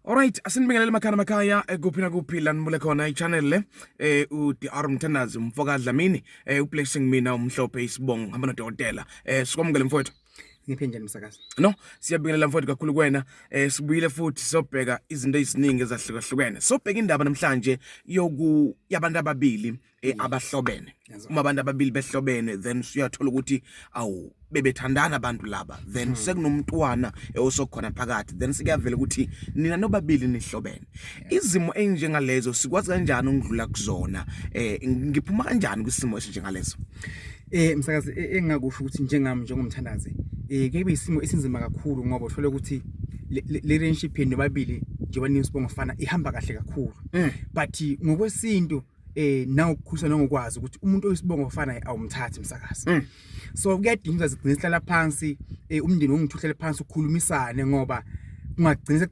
Alright, asinibingelele makhaya makhaya eh, kuphi nakuphi la nibule khona i-channel le eh uDR Mthandazi umfoka Dlamini eh ublessing mina umhlophe isibongo hamba nodokotela eh sikwamukele mfowethu ngiphe njani msakazi no siyabingelela mfowethu kakhulu kwena eh sibuyile futhi sobheka izinto eziningi ezahlukahlukene sobheka indaba namhlanje yoku yabantu ababili eh, abahlobene uma abantu ababili behlobene then suyathola ukuthi awu bebethandana abantu laba then hmm. sekunomntwana osokhona phakathi then sikuyavela ukuthi nina nobabili nihlobene izimo enjengalezo sikwazi kanjani ukudlula kuzona eh ngiphuma kanjani kwisimo esinjengalezo eh msakazi e, engakusho ukuthi njengami njengomthandazi eh kube isimo esinzima kakhulu ngoba uthole ukuthi le relationship yenu nobabili njengoba ninisibongo fana ihamba kahle kakhulu hmm. but ngokwesintu eh nawukukhusa nongokwazi ukuthi umuntu oyisibongo ofana naye awumthathi msakazi mm. so kuyadinga ukuthi sigcine sihlala phansi eh umndeni ongithuhlele phansi ukhulumisane ngoba kungagcina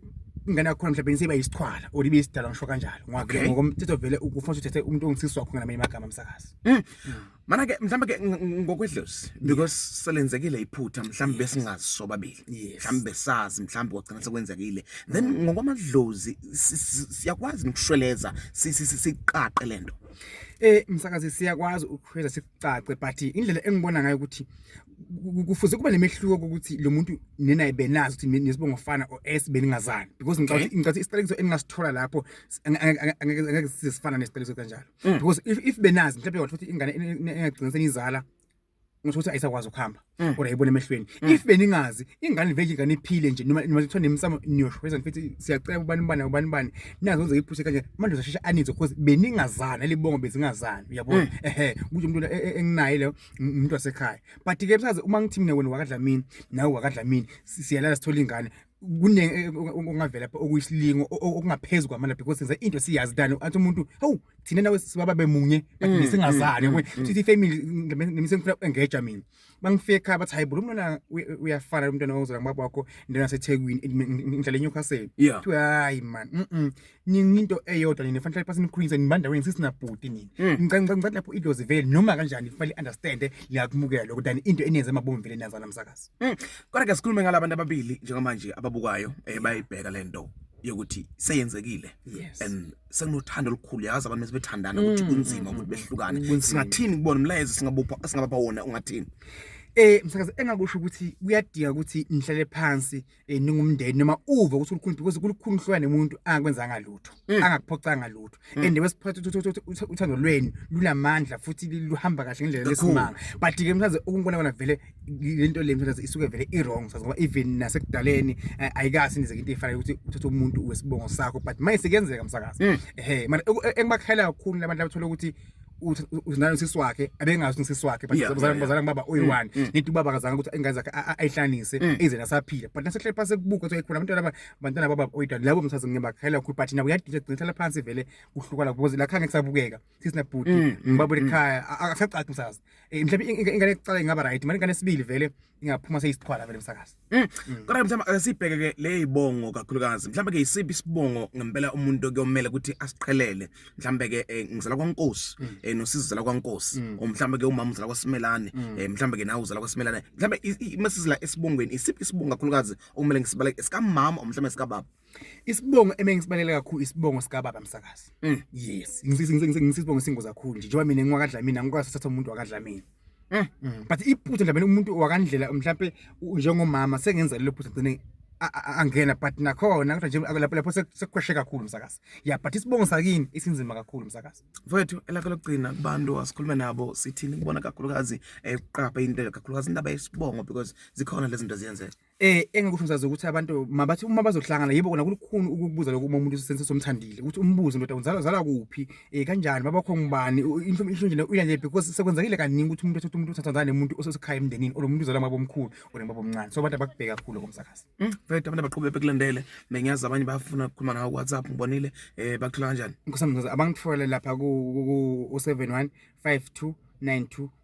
ingane yakho mhlawumbe nisiba yisichwala or ibe isidala ngisho kanjalo ngoba ngokomthetho vele ufanele uthethe umuntu ongithiswa khona ngamanye amagama msakazi mm. mm. mana ke mhlawumbe ke ngokwedlozi because selenzekile iphutha mhlawumbe besingazi sobabili mhlawumbe besazi mhlawumbe kwagcina sekwenzekile then mm. ngokwamadlozi siyakwazi nokushweleza siqaqe lento eh msakazi siyakwazi ukushweleza sicace but indlela engibona ngayo ukuthi kufuze kuba nemehluko ukuthi lo muntu nina ibenazi ukuthi nesibongo fana or s beningazani because ngicabanga ngicabanga isiqalekiso engingasithola lapho angeke size sifana nesiqalekiso kanjalo Mm. because if if benazi mhlawumbe wathi ukuthi ingane engagcina senizala ngisho ukuthi ayisakwazi ukuhamba Mm. kodwa yibona emehlweni Mm. if beningazi ingane vele ingane iphile nje noma noma kuthiwa nemsamo niyoshweza nifithi siyacela ubani ubani ubani ubani nazo wenze iphushe kanje manje uzashesha anizwe because beningazana libongo bezingazani uyabona Mm. ehe kusho umuntu e- e- enginaye leyo m- umuntu wasekhaya but ke msazi uma ngithi mina wena wakadlamini nawe wakadlamini si- siyalala sithola ingane kuningi eh, ongavela pha okuyisilingo okungaphezulu kwamandla because senza into siyazi tani athi umuntu hawu thina nawe sibaba bemunye but mm, singazani mm, mm, sithi family ngimise ngifuna engeja mina bangifike ekhaya bathi hayi bulu mntwana uyafana lo mntwana ozala ngibaba wakho ndena sethekwini ngihlala eNewcastle kuthiwa hayi man ninginto eyodwa nina fanele pasi nikhulise nibanda wena sisinabhuti nina hmm. ngicela ngicela ngicela lapho idlozi vele noma kanjani fanele understand liyakumukela lokho than into enenze emabomu vele nazana msakazi hmm. kodwa ke sikhulume ngalabantu ababili njengamanje ababukayo eh, bayibheka lento yokuthi seyenzekile yes. and sekunothando olukhulu yazi abantu mesebethandana ukuthi mm, kunzima mm, ukuthi mm, behlukane singathini kubona umlayezo singabupha singabapha wona ungathini eh msakazi engakusho ukuthi kuyadika ukuthi nihlale phansi eh, ningumndeni noma uve ukuthi ulikhulu because kulukhulu uhlukane umuntu angakwenzanga lutho Mm. angakuphoxanga lutho Mm. and wesiphatha ukuthi- ukuthi- ukuthi- ukuthi uthando lwenu lunamandla futhi luhamba kahle ngendlela Kakhulu. lesimanga but ke mthaze ukungibona kona vele lento le mthaze isuke vele i-wrong sazi ngoba even nasekudaleni eh, ayikazi nizeke into efanayo ukuthi uthathe umuntu wesibongo sakho but manje sekuyenzeka msakazi Mm. ehe mara oku- e- engibakhayela kakhulu labantu abathola ukuthi unayo sisi wakhe abengazi usisi wakhe but bazalana bazalana baba oyi-one mm, mm. ngithi ubaba akazanga ukuthi ingane zakhe ayihlanise mm. ize nasaphila but nasehleli phansi kubuka ukuthi khona abantwana aba bantwana baba oyi-one labo mthazi ngiyabakhayela kakhulu but nabo uyadisha gcina hlala phansi vele kuhluka la because la khanga kusabukeka sisi nabhuti ngibabona ekhaya akasacaci msazi eh, mhlawumbe ingane yokuqala ingaba right manje ingane esibili vele ingaphuma seyisiqhwala vele msakazi mm. mm. kodwa mhlawumbe ake sibheke ke le yibongo kakhulukazi mhlawumbe ke yisiphi isibongo ngempela umuntu kuyomela ukuthi asiqhelele mhlawumbe ke eh, ngizala kwankosi mm. eh, nosizi uzala kwankosi mhlawumbe ke umama uzala kwasimelane eh, mhlawumbe ke nawe uzala kwasimelane mhlawumbe masizila esibongweni isiphi isibongo kakhulukazi okumele ngisibale esikamama mhlawumbe esikababa Isibongo emengisibangele kakhulu isibongo sika baba msakazi. Mm. Yes. Ngisisibongo singozi kakhulu nje njengoba mina ngiwakadlamina ngikwazi ukuthatha umuntu wakadlamina. Mm. Mm. But iphutha nje umuntu wakandlela mhlawumbe njengomama sengenza lelo phutha ngcine angena but nakhona kodwa nje lapho lapho sekukhweshe kakhulu msakazi ya but isibongo sakini isinzima kakhulu msakazi mfowethu elakho lokugcina kubantu asikhulume nabo sithini kubona kakhulukazi eqapha into kakhulukazi indaba yesibongo because zikhona lezi zinto ziyenzeka Eh engikusho msazi ukuthi abantu mabathi uma bazohlangana yebo kona kulukhuni ukukubuza lokho uma umuntu usense somthandile ukuthi umbuze ndoda unzala zala kuphi eh kanjani baba kho ngubani inhlobo inhlobo nje uyanje because sekwenzekile kaningi ukuthi umuntu ethatha umuntu uthatha ngane umuntu osesekhaya emndenini or umuntu uzala mabo omkhulu or mabo omncane so abantu abakubheka kakhulu komsakazi mm right abantu abaqhubeka bekulandele bengiyazi abanye bafuna ukukhuluma nawe WhatsApp ngibonile eh bakuthola kanjani nkosamzazi abangithola lapha ku 071 5292